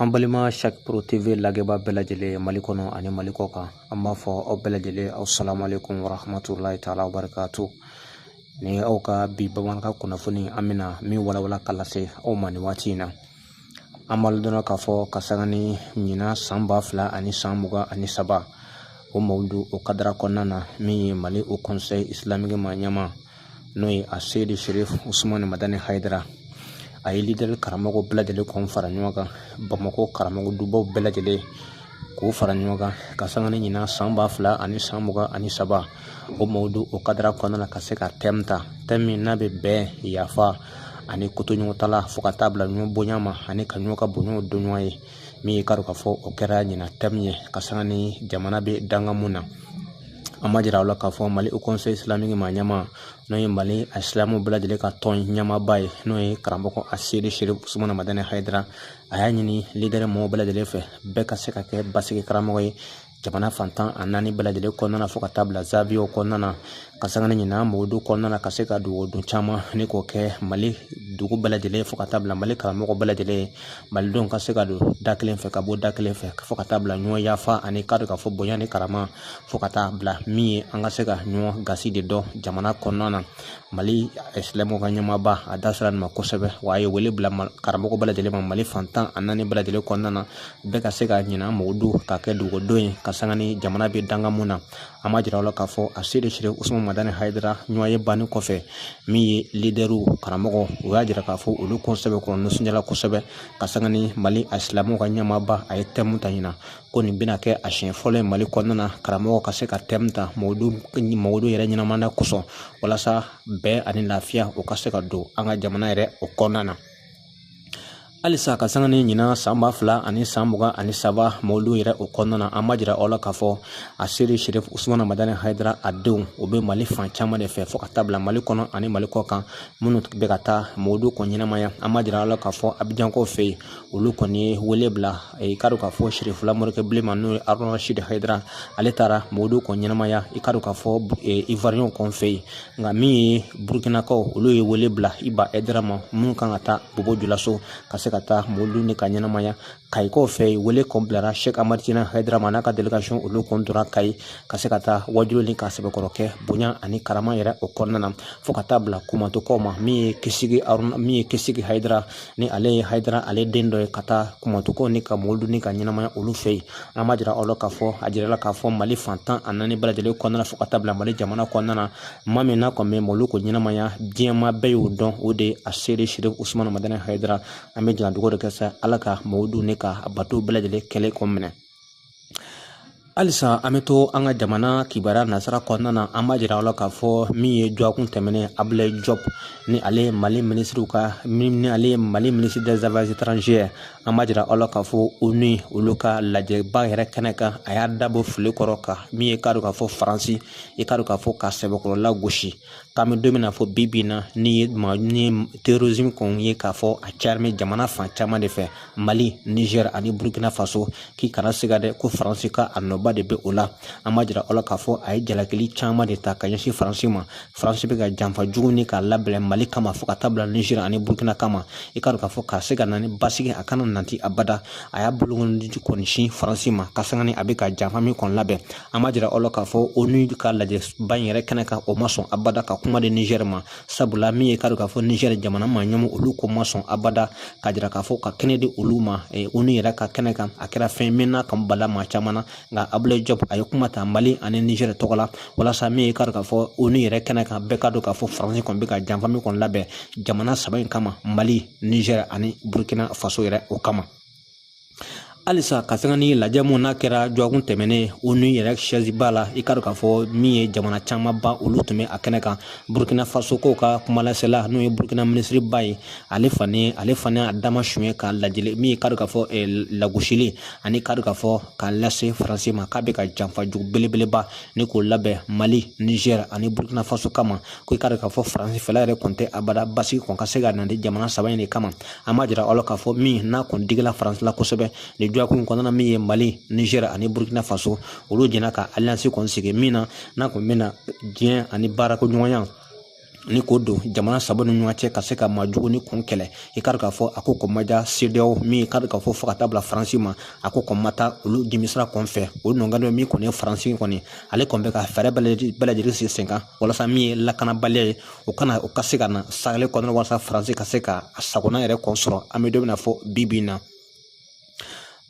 An balima sakuru TV lajɛbaa bɛɛ lajɛlen ye mali kɔnɔ ani mali kɔ kan an b'a fɔ aw bɛɛ lajɛlen asalamu alekum warahamatulahi taala wabarakatu ni aw ka bi bamanankan kunnafoni an bɛna min walawala k'a lase aw ma nin waati in na an b'a dɔn k'a fɔ ka sanga ni ɲinan san ba fila ani san mugan ani saba o mawuludu o kadara kɔnɔna na min ye mali haut conseil islamique ma ɲɛmaa n'o ye aseyidi sherif usumani madani hayidara a ye lidɛri karamɔgɔ bɛɛ lajɛlen kɔn fara ɲɔgɔn kan bamakɔ karamɔgɔ dubaw bɛɛ lajɛlen k'u fara ɲɔgɔn kan ka sanga ni ɲinan san ba fila ani san mugan ani saba o mawuludu o kadara kɔnɔna na ka se ka tɛmu ta tɛmu min n'a bɛ bɛn yafa ani kotoɲɔgɔntala fo ka taa bila ɲɔgɔn bonya ma ani ka ɲɔgɔn ka bonyaw dɔn ɲɔgɔn ye min ye k'a dɔn k'a fɔ o kɛra ɲinan tɛmu ye ka sanga ni jamana bɛ dankan min na an b'a jira aw la k'a fɔ mali haut conseil islamique ma ɲɛmaa n'o ye mali a silamɛw bɛɛ lajɛlen ka tɔn ɲɛmaaba ye n'o ye karamɔgɔ aseyidi sherif usumana madani hayidara a y'a ɲini lidɛri mɔgɔw bɛɛ lajɛlen fɛ bɛɛ ka se ka kɛ basigi karamɔgɔ ye jamana fan tan ni naani bɛɛ lajɛlen kɔnɔna fo ka taa bila zawiyaw kɔnɔna na ka sanga ni ɲinan mawuludu kɔnɔna na ka se ka dugawudon caman nin k'o kɛ mali dugu bɛɛ lajɛlen fo ka taa bila mali karamɔgɔ bɛɛ lajɛlen malidenw ka se ka don da kelen fɛ ka bɔ da kelen fɛ fo ka taa bila ɲɔgɔn yafa ani ka don ka fɔ bonya ni karama fo ka taa bila min ye an ka se ka ɲɔgɔn gasi de dɔn jamana kɔnɔna na mali silamɛw ka ɲɛmaaba a da sera nin ma kosɛbɛ wa a ye wele bila karamɔgɔ bɛɛ lajɛlen ma mali fan tan ni naani bɛɛ lajɛlen kɔnɔna na bɛɛ ka se ka ɲinan mawuludu ka kɛ dugawudon ye ka sanga ni jamana bɛ dankan min na an b'a jira aw la k'a fɔ aseyidi sherif usumana madani hayidara ɲɔgɔnye banni kɔfɛ min ye lidɛriw karamɔgɔw y'a jira k'a fɔ olu kɔn sɛbɛkɔrɔ nisɔndiyala kosɛbɛ ka sanga ni mali a silamɛw ka ɲɛmaaba a ye tɛmu ta ɲinan ko nin bɛna kɛ a siɲɛ fɔlɔ ye mali kɔnɔna na karamɔgɔ ka se ka tɛmu ta mawuludu yɛrɛ ɲɛnamaya kosɔn walasa bɛn ani lafiya o ka se ka don an ka jamana yɛrɛ o kɔnɔna na halisa ka sanga ni ɲinan san ba fila ani san mugan ani saba mawuludu yɛrɛ o kɔnɔna na an b'a jira aw la k'a fɔ aseyidi sherif usumana madani hayidara a denw o bɛ mali fan caman de fɛ fɔɔ ka taa bila mali kɔnɔ ani mali kɔ kan minnu bɛ ka taa mawuludu kɔni ɲɛnamaya an b'a jira aw la k'a fɔ abijankaw fɛ yen olu kɔni ye wele bila i k'a dɔn k'a fɔ sherifula morikɛ bilenman n'o ye arasidi hayidara ale taara mawuludu kɔn ɲɛnamaya i k'a dɔn k'a fɔ iwariyɛnw kɔn fɛ yen nka min ye burukinakaw olu ye wele bila iba hayidara ma minnu kan ka taa bɔbɔ julaso ka se ka taa mawuludu k'a ɲɛnamaya kayikaw fɛ yen wele kɔn bilara seki amatijani hayidara ma n'a ka delegasiyɔn olu kɔn donna kayi ka se ka taa waaju nin k'a sɛbɛkɔrɔ kɛ bonya ani karama yɛrɛ o kɔnɔna na fo ka taa bila kumatɔ kɔ ma min ye kisi min ye kisi hayidara ni ale ye hayidara ale den dɔ ye ka taa kumantu kɔni ka mawuludu nin ka ɲɛnamaya olu fɛ yen an b'a jira aw la k'a fɔ a jirala k'a fɔ mali fan tan ani naani bɛɛ lajɛlen kɔnɔna fo ka taa bila mali jamana kɔnɔna na maa min n'a kɔni bɛ mawuludu ko ɲɛnamaya diɲɛ maa bɛɛ y'o dɔn o de ye aseyidi serifu usumani madani hayidara an bɛna dugawu de kɛ sa ala ka mawuludu nin ka bato bɛɛ lajɛlen kɛlen kɔ minɛ halisa an bɛ to an ka jamana kibaruya nasira kɔnɔna na an b'a jira aw la k'a fɔ min ye dɔgɔkun tɛmɛnen abulayi jɔp ni ale ye mali minisiri ka ni ale ye mali minisiri des affaires étrangères an b'a jira aw la k'a fɔ onu olu ka lajɛba yɛrɛ kɛnɛ kan a y'a da bɔ fili kɔrɔ kan min ye k'a dɔn k'a fɔ faransi i k'a dɔn k'a fɔ k'a sɛbɛkɔrɔ lagosi k'an bɛ don min na fɔ bi bi in na ni ye ma ni terrorisme kɔni ye k'a fɔ a cayalen bɛ jamana fan caman de fɛ mali nizɛri ani burukina faso k'i kana siga dɛ ko faransi ka nɔba de bɛ o la an b'a jira aw la k'a fɔ a ye jalakili caman de ta ka ɲɛsin faransi ma faransi bɛ ka janfa jugu nin k'a labɛn mali kama fo ka taa bila nizɛri ani burukina kama i k'a dɔn k'a fɔ ka se ka na ni basigi a kana nanti abada a y'a bolokɔnin kɔni sin faransi ma ka sanga ni a bɛ ka janfa min kɔni labɛn an b'a jira aw la k'a fɔ onu ka lajɛba in yɛrɛ kɛnɛ kan o ma sɔn abada ka kuma di nizɛri ma sabula min ye k'a dɔn k'a fɔ nizɛri jamana ma ɲɛmaa olu kɔn ma sɔn abada k'a jira k'a fɔ ka kɛnɛ di olu ma onu yɛrɛ ka kɛnɛ kan a kɛra fɛn min n'a kɔn bala maa caman na nka abulayi jɔp a ye kuma ta mali ani nizɛri tɔgɔ la walasa min ye k'a dɔn k'a fɔ onu yɛrɛ kɛnɛ kan bɛɛ k'a dɔn k'a fɔ faransi kɔni bɛ ka janfa min kɔni labɛn jamana saba in kama mali nizɛri ani burukina faso yɛrɛ o kama halisa ka sanga ni lajɛ min n'a kɛra dɔgɔkun tɛmɛnen onu yɛrɛ siyɛziba la i k'a dɔn k'a fɔ min ye jamana camanba olu tun bɛ a kɛnɛ kan burukina faso kɔn ka kumalasela n'o ye burukina minisiriba ye ale fana ale fana a dama suɲɛ ka lajɛli min ye k'a dɔn k'a fɔ eh, lagosili ani k'a dɔn k'a fɔ k'a lase faransi ma k'a bɛ ka janfa jugu belebeleba nin kɔn labɛn mali nizɛri ani burukina faso kama ko i k'a dɔn k'a fɔ faransi fɛla yɛrɛ kɔni tɛ abada basigi kɔn ka se ka na jamana saba in de kama an b'a jira aw la k'a fɔ min n'a kɔni digila faransi la kosɛbɛ nin dɔgɔkun in kɔnɔna min ye mali niger ani burkina faso olu jɛna ka alliance kɔni sigi min na n'a kɔni bɛna dɛmɛ ani baarakɛɲɔgɔnya nin kɔn don jamana saba ni ɲɔgɔn cɛ ka se ka maajugu nin kɔn kɛlɛ i k'a k'a fɔ a ko kɔn ma diya sedeyawo min k'a k'a fɔ fo ka taa bila faransi ma a ko kɔn ma taa olu dimisira kɔn fɛ o nɔnkadɔ min kɔni ye faransi kɔni ale kɔni bɛ ka fɛɛrɛ bɛɛ lajɛlen sigi sen kan walasa min ye lakanabaliya ye o kana o ka se ka na saheli kɔnɔna walasa faransi ka se ka a sagona yɛrɛ kɔn sɔrɔ an bɛ don min na fɔ bi bi in na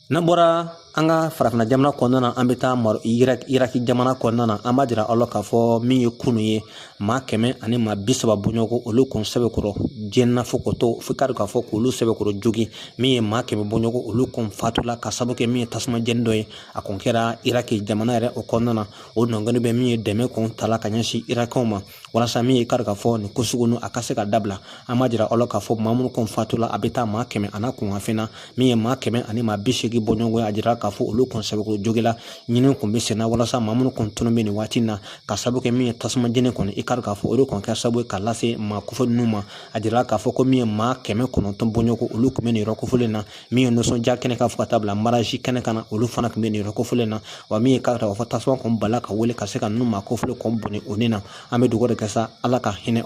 n'an bɔra an ka farafinna jamana kɔnɔna na an bɛ taa maro iraki jamana kɔnɔna na an b'a jira aw la k'a fɔ min ye kunu ye maa kɛmɛ ani maa bi saba bɔɲɔgɔn olu kun sɛbɛkɔrɔ jenina fo ko to fo kari k'a fɔ k'olu sɛbɛkɔrɔ jogin min ye maa kɛmɛ bɔɲɔgɔn olu kun fatula ka sabu kɛ min ye tasuma jeni dɔ ye a kun kɛra iraki jamana yɛrɛ o kɔnɔna na o nɔngɔni bɛ min ye dɛmɛ kɔn tala ka ɲɛsin irakikaw ma walasa min ye i kari k'a fɔ nin ko sugu nu a ka se ka dabila an b'a jira aw la k'a fɔ maa minnu kɔni fatula a bɛ taa maa kɛmɛ ani kunkanfɛn na min ye maa kɛmɛ ani maa bi seegin bɔɲɔgɔn a jira k'a fɔ olu kɔni sɛbɛkɔrɔ joginna ɲinini kun bɛ senna walasa maa minnu kɔni tununnen bɛ nin waati na k'a sabu kɛ min ye tasuma jeni kɔni i kari k'a fɔ o de kɔni kɛra sabu ye k'a lase maa kofɔ ninnu ma a jira k'a fɔ ko min ye maa kɛmɛ kɔnɔntɔn bɔɲɔgɔn olu tun bɛ nin yɔrɔ kofɔlen na min ye nisɔndiya kɛnɛ kan fo ka taa bila mariyazi kɛnɛ kan olu fana tun bɛ nin yɔrɔ kofɔlen na wa min ye k'a fɔ tasuma kɔni bala ka wuli ka se ka ninnu maa kofɔlen kɔni bɔnɛ o ni na an bɛ dugawu de kɛ sa ala ka hinɛ o